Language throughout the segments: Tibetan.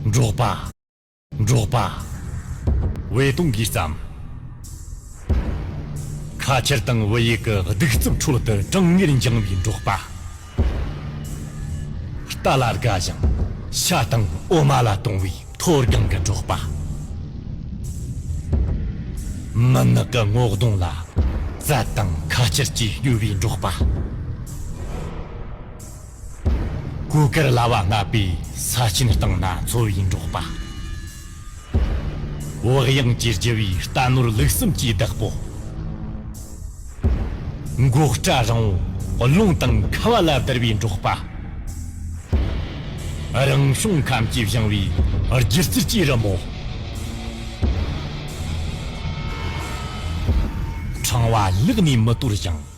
འབྲོག་པ། འབྲོག་པ། བའི་དུང་གིས་བརྩམས། ཁ་ཆེར་དང་བུ་ཡུག་གི་གདུག་རྩུབ་ཁྲོད་དུ་གྲང་ངར་འགྱངས་པའི་འབྲོག་པ། རྟ་ལ་དགའ་ཞིང་ཤ་དང་འོ་མ་ལ་དུང་བའི་མཐོ་སྒང་གི་འབྲོག་པ། མུན་ནག་གི་སྔོག་གདོང་ལ་རྩལ་དང་ཁ་ཆེར་གྱིས་སྐྱོད་པའི་འབྲོག་པ། གོས་དཀར་ལྭ་བ་ལྔ་པའི་ས་སྐྱིན་བཏང་ན་འཚོ་བའི་འབྲོག་པ། བག་ཡངས་ཀྱི་རྒྱུ་བའི་རྟ་ནོར་ལུག་གསུམ་གྱི་བདག་པོ། མགོ་སྐྲ་རིང་བོ་རླུང་དང་ཁ་བ་ལ་བསྡུར་བའི་འབྲོག་པ། རང་བྱུང་ཁམས་ཀྱིས་བཞེངས་བའི་སྒྱུ་རྩལ་གྱི་རི་མོ། ཕྲེང་བ་བསླུགས་ནས་མི་དོར་ཞིང།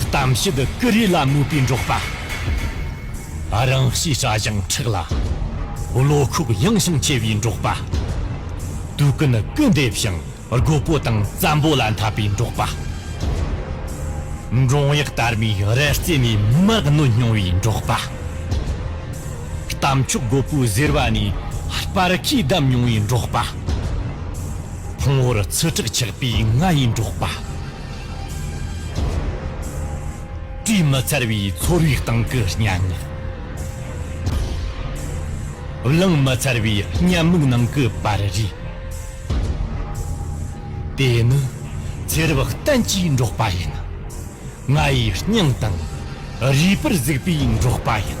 གཏམ་བཤད་ཀུ་རེ་ལ་མོས་པའི་འབྲོག་པ། རང་གཤིས་སྐྲ་བཞེངས་མཁྲེགས་ལ་བློ་ཁོག་ཡངས་ཤིང་ཆེ་བའི་འབྲོག་པ། དུས་ཀུན་སྐུལ་འདེབས་ཤིང་རྒོད་པོ་དང་བཙན་པོ་ལ་འཐབ་པའི་འབྲོག་པ། འབྲོང་གཡག་དར་མའི་རལ་རྩེ་ནས་མི་མ་གནོད་སྙིང་བའི་འབྲོག་པ། གཏམ་མཆོག་རྒོད་པོའི་གཟེར་བ་ནས་སྤར་ཁའི་བསྡམས་མྱོང་བའི་འབྲོག་པ། ཕུང་བོར་ཚི་དྲེག་ཆགས་པའི་ང་ཡི་འབྲོག་པ། དྲི་མ་འཚར་བའི་ཚོར་བའི་སྟེང་གི་སྙན་ངག། གླེང་མ་འཚར་བའི་སྙན་མིག་ནང་གི་པར་རིས། དེ་ནི་ཚེ་རབས་གཏན་གྱི་འབྲོག་པ་ཡིན། ང་ཡི་སྙིང་དང་རུས་པར་གཟིགས་པའི་འབྲོག་པ་ཡིན།